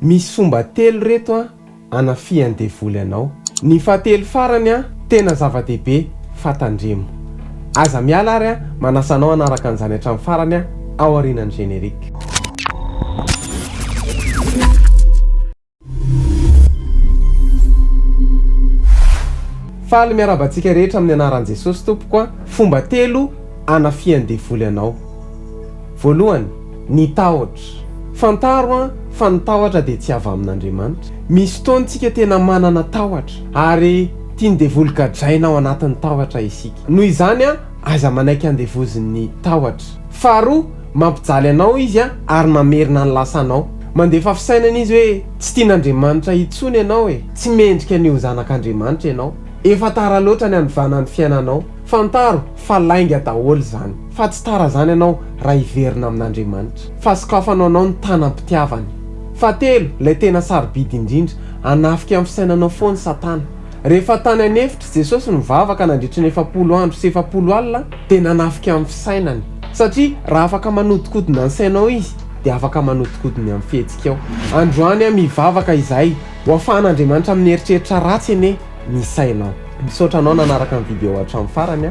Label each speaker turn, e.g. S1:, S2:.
S1: Misy fomba telo reto an anafihan'ny devoly anao. Ny fahatelo farany an tena zava-dehibe fa tandremo. Aza miala ary an manasa anao hanaraka an'izany hatramin'ny farany an ao aorianan'ny générique. Faly miarahaba antsika rehetra amin'ny anaran'i Jesosy tompoko an, fomba telo anafihan'ny devoly anao. Voalohany, ny tahotra. Fantaro an, fa ny tahotra dia tsy avy amin'Andriamanitra. Misy fotoana isika tena manana tahotra, ary tian'ny devoly gadraina ao anatin'ny tahotra isika. Noho izany an, aiza manaiky andevozin'ny tahotra. Faharoa, mampijaly anao izy an, ary mamerina ny lasanao. Mandefa fisainana izy hoe, tsy tian'Andriamanitra intsony ianao e, tsy mendrika ny ho zanak'Andriamanitra ianao, efa tara loatra ny hanovana ny fiainanao. Fantaro fa lainga daholo izany. Fa tsy tara zany anao raha hiverina amin'Andriamanitra. Fa sokafano anao ny tanam-pitiavany. Fahatelo, ilay tena sarobidy indrindra, hanafika amin'ny fisainanao foana Satana. Rehefa tany an'efitra, Jesosy nivavaka nandritry ny efapolo andro sy efapolo alina dia nanafika amin'ny fisainany. Satria raha afaka manodikodina ny sainao Izy dia afaka manodikodina amin'ny fihetsikao. Androany aho mivavaka izahay ho afahan'Andriamanitra amin'ny eritreritra ratsy anie ny sainao. Misaotra anao nanaraka ny video hatramin'ny farany.